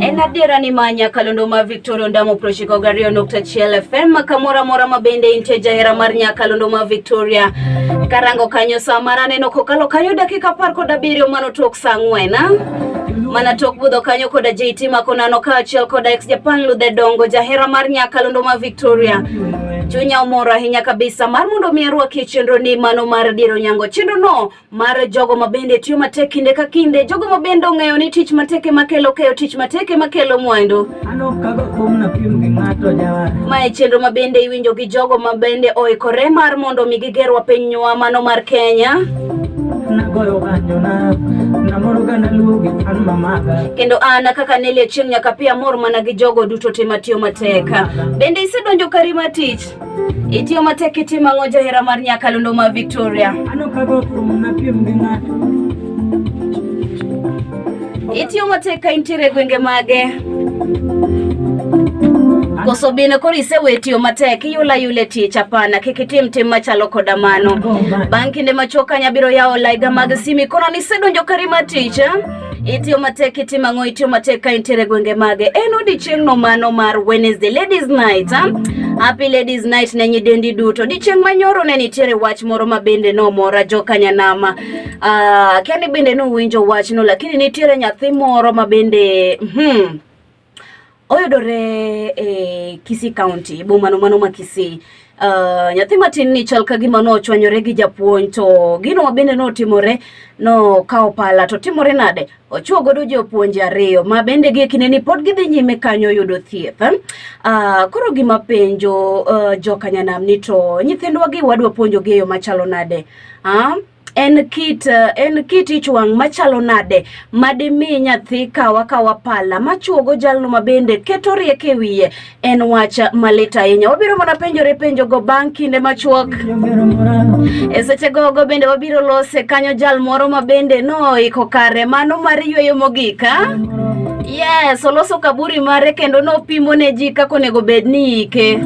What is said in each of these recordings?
En adiera ni ma Nyakalondo ma Victoria Ondamo prochiko gariyo nukta chiel FM kamora mora mabende intie jahera mar Nyakalondo ma Victoria karango kanyo saa mar aneno kokalo kanyo dakika apar kod abiriyo mano tok saa ang'wen mana tok budho kanyo koda JT Makonano kaachiel koda ex Japan Ludhe Dongo jahera mar Nyakalondo ma Victoria. Chunya omor ahinya kabisa mar mondo mi arwakie chenro ni mano mar diro nyango. Chenro no mar jogo mabende tiyo matek kinde ka kinde, jogo mabende ong'eyo ni tich matek ema kelo keyo, tich matek ema kelo mwandu. Mae chenro mabende iwinjo gi jogo mabende oikore mar mondo mi gigerwa pinywa mano mar Kenya. kendo an kaka nelie chieng' nyaka pi amor mana gi jogo duto te matiyo matek bende isedonjo kari ma tich itiyo matek itimo ang'o jahera mar nyakalondo ma victoria Itiyo mateka intiere gwenge mage? Koso bende koro isewe tiyo matek iyula yule tich hapana kik itim tim machalo koda mano. Bang' kinde machuok kanya biro yawo laiga mag simi kono nisedonjo kari ma tich. eh? Itiyo matek itimo ang'o itiyo matek ka intiere gwenge mage en odiechieng'no mano mar Wednesday ladies night ah? Happy ladies night ne nyidendi duto. Odiechieng' manyoro ne nitiere wach moro ma bende nomora jokanyanama Uh, Kenny bende nowinjo wachno lakini nitiere nyathi moro ma bende hmm, oyudore e Kisii County e bomano mano ma Kisii Uh, nyathi matin ni chal ka gima nochwanyore gi japuonj to gino mabende notimore nokawo pala to timore nade ochuo godo jopuonje ariyo ma bende gi kinde ni pod gidhi nyime kanyo yudo thieth uh, koro gima penjo uh, jokanyanam ni to nyithindwa gi wadwa puonjogi e yo machalo nade Ah, en kit eh, en kit ich wang' machalo nade madimi nyathi kawa kawa pala machuogo jalno mabende keto rieko e wiye en wach malit ahinya wabiro mana penjore penjogo bang' kinde machuok e seche gogo bende wabiro lose kanyo jal moro mabende noiko kare mano mar yweyo mogika ah? Yes, oloso kaburi mare kendo nopimo ne ji kaka onego bed ni ike.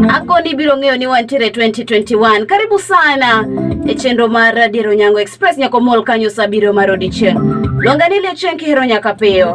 Akoni ibiro ng'eyo ni wantiere 2021. Karibu sana e chenro mar Adier Onyango Express nyaka omol kanyo sa abiriyo mar odiechieng'. Luonga ni Liachieng' kihero nyaka piyo.